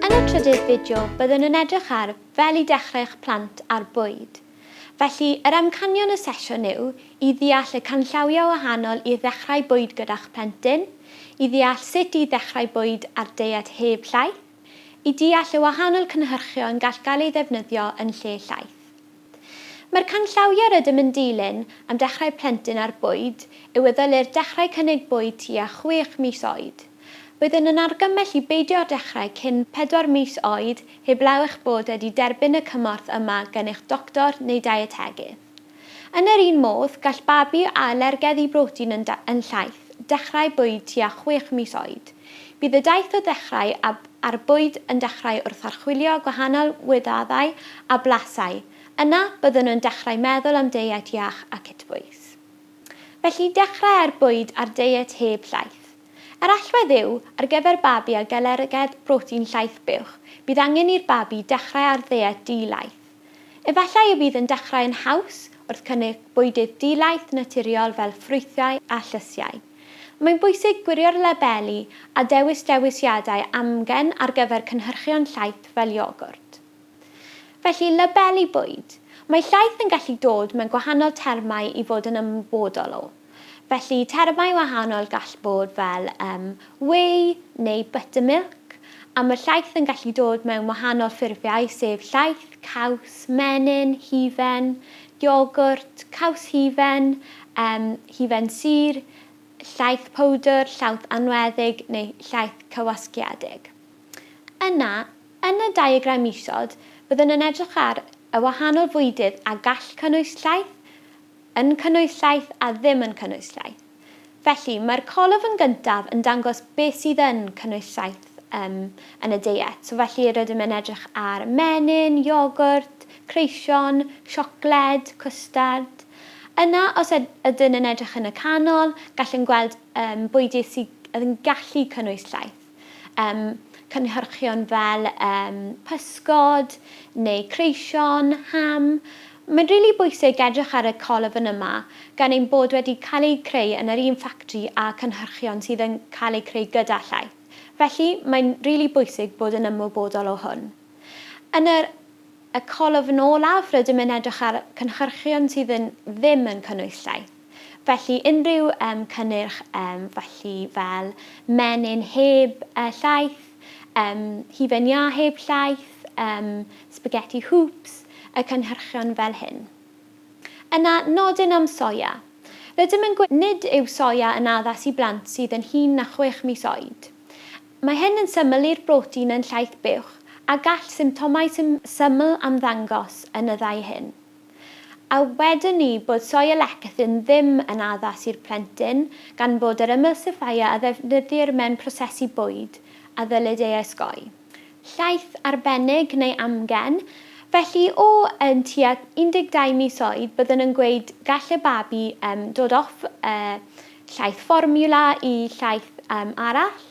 Yn y trydydd fideo, byddwn yn edrych ar fel i dechrau eich plant ar bwyd. Felly, yr amcanion y sesiwn yw i ddeall y canllawiau wahanol i ddechrau bwyd gyda'ch plentyn, i ddeall sut i ddechrau bwyd ar deiet heb llaeth, i deall y wahanol cynhyrchion gall gael eu ddefnyddio yn lle llaeth. Mae'r canllawiau rydym yn dilyn am dechrau plentyn ar bwyd yw y ddylir dechrau cynnig bwyd tua chwech mis oed. Byddwn yn argymell i beidio â dechrau cyn pedwar mis oed heblaw eich bod wedi derbyn y cymorth yma gan eich doctor neu deietegydd. Yn yr un modd, gall babi â alergedd i brotein yn llaith dechrau bwyd tua chwech mis oed. Bydd y daith o ddechrau ab ar bwyd yn dechrau wrth archwilio gwahanol wyddadau a blasau, yna byddwn yn dechrau meddwl am deiet iach a cytbwys. Felly dechrau ar bwyd ar deiet heb llaeth. Yr allwedd yw, ar gyfer babi ag alergedd brotein llaeth buwch, bydd angen i'r babi dechrau ar ddeiet di-laeth. Efallai y bydd yn dechrau yn haws wrth cynnig bwydydd di-laeth naturiol fel ffrwythau a llysiau. Mae'n bwysig gwirio'r labeli a dewis dewisiadau amgen ar gyfer cynhyrchion llaeth fel iogwrt. Felly, labeli bwyd. Mae llaeth yn gallu dod mewn gwahanol termau i fod yn ymwybodol o. Felly, termau wahanol gall bod fel um, whey neu buttermilk, a mae llaeth yn gallu dod mewn wahanol ffurfiau sef llaeth, caws, menyn, hufen, iogwrt, caws hufen, um, hufen sur, llaeth powdr, llawth anweddig neu llaeth cywasgiedig. Yna, yn y diagram isod, byddwn yn edrych ar y wahanol fwydydd a gall cynnwys llaeth, yn cynnwys llaeth a ddim yn cynnwys llaeth. Felly, mae'r colofn gyntaf yn dangos beth sydd yn cynnwys llaeth um, yn y deiet. So, felly, rydym yn edrych ar menyn, iogwrt, creision, siocled, cwstard. Yna, os ydyn yn edrych yn y canol, gallwn gweld um, bwydydd sydd yn gallu cynnwys llaeth. Yym, cynhyrchion fel yym pysgod neu creision, ham. Mae'n rili bwysig edrych ar y colofn yma, gan ein bod wedi cael eu creu yn yr un ffactri â cynhyrchion sydd yn cael eu creu gyda llaeth. Felly, mae'n rili bwysig bod yn ymwybodol o hwn. Yn yr y colofn olaf, rydym yn edrych ar cynhyrchion sydd yn ddim yn cynnwys llaeth. Felly unrhyw yym cynnyrch yym felly fel menyn heb yy llaeth, yym hufen iâ heb llaeth, yym spaghetti hoops, y cynhyrchion fel hyn. Yna nodyn am soia. Rydym yn gweud nid yw soia yn addas i blant sydd yn hŷn na chwech mis oed. Mae hyn yn syml i'r brotein yn llaeth buwch a gall symptomau syml ymddangos yn y ddau hyn. A wedwn ni bod soy a lecithin ddim yn addas i'r plentyn gan fod yr emulsifier a ddefnyddir mewn prosesu bwyd a ddylid ei osgoi. Llaeth arbennig neu amgen, felly o yn tua 12 mis oed byddwn yn gweud gall y babi dod off llaeth fformiwla i llaeth arall.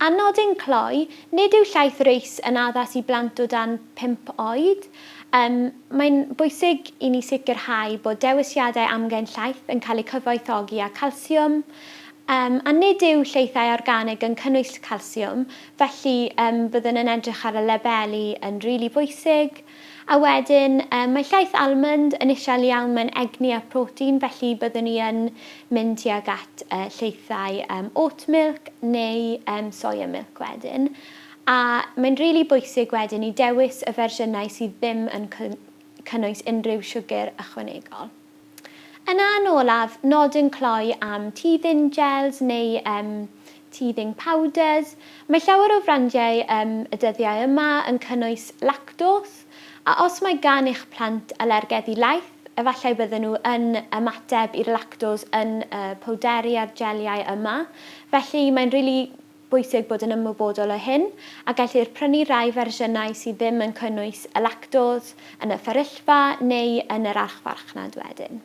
A nodyn cloi, nid yw llaeth reis yn addas i blant o dan pump oed. Yym, mae'n bwysig i ni sicrhau bod dewisiadau amgen llaeth yn cael eu cyfoethogi â calsiwm, yym, a nid yw llaethau organig yn cynnwys calsiwm, felly yym byddwn yn edrych ar y labeli yn rili bwysig. A wedyn yy mae llaeth almwnd yn isel iawn, mae'n egni a protein felly byddwn i yn mynd tuag at yy llaethau yym oat milk neu yym soya milk wedyn. A mae'n rili bwysig wedyn i dewis y fersiynau sydd ddim yn cynnwys unrhyw siwgr ychwanegol. Yna yn olaf, nodyn cloi am teething gels neu um, teething powders. Mae llawer o frandiau um, y dyddiau yma yn cynnwys lactos, a os mae gan eich plant alergedd i laeth, efallai bydden nhw yn ymateb i'r lactos yn y powderi a'r jeliau yma. Felly mae'n rili bwysig bod yn ymwybodol o hyn, a gellir prynu rhai fersiynau sydd ddim yn cynnwys y lactose yn y fferyllfa neu yn yr archfarchnad wedyn.